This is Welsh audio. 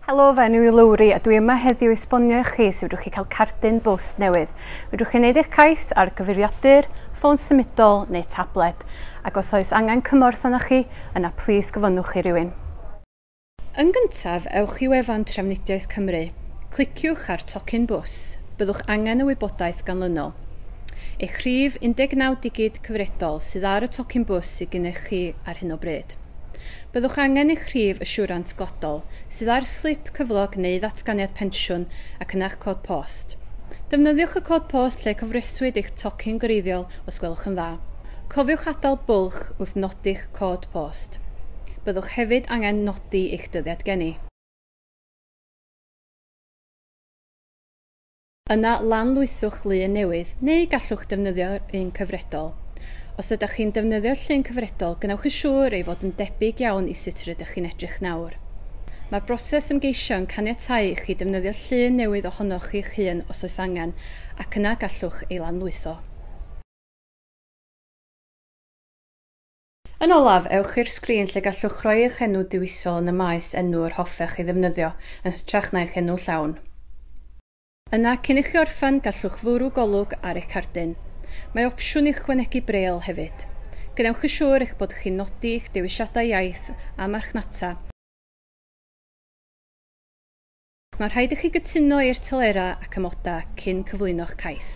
Helo, fe enw i Lowri a dwi yma heddiw i sbonio i chi sut fedrwch chi cael cardyn bws newydd. Fedrwch chi wneud eich cais ar gyfeiriadur, ffôn symudol neu tablet, ac os oes angen cymorth arnoch chi, yna plis gofynnwch i rywun. Yn gyntaf, ewch i wefan Trafnidiaeth Cymru. Cliciwch ar Tocyn Bws. Byddwch angen y wybodaeth ganlynol. Eich rhif 19 digid cyfredol sydd ar y tocyn bws sydd gennych chi ar hyn o bryd. Byddwch angen eich rhif asiwrant gwladol, sydd ar slip cyflog neu ddatganiad pensiwn, ac yna'ch cod post. Defnyddiwch y cod post lle cofreswyd eich tocyn gwreiddiol os gwelwch yn dda. Cofiwch adael bwlch wrth nodi'ch cod post. Byddwch hefyd angen nodi eich dyddiad geni. Yna lanlwythwch lun newydd, neu gallwch ddefnyddio'r un cyfredol. Os ydych chi'n defnyddio'r llun cyfredol, gwnewch yn siŵr ei fod yn debyg iawn i sut rydych chi'n edrych nawr. Mae'r broses ymgeisio yn caniatáu i chi ddefnyddio llun newydd ohonoch chi'ch hun os oes angen, ac yna gallwch ei lanlwytho. Yn olaf, ewch i'r sgrin lle gallwch roi eich enw diwisol yn y maes enw yr hoffech ei ddefnyddio, yn hytrach na eich enw llawn. Yna, cyn i chi orffen, gallwch fwrw golwg ar eich cardyn. Mae opsiwn i ychwanegu brêl hefyd. Gwnewch yn siŵr eich bod chi'n nodi eich dewisiadau iaith a marchnata. Mae'n rhaid i chi gytuno i'r telerau ac amodau cyn cyflwyno'ch cais.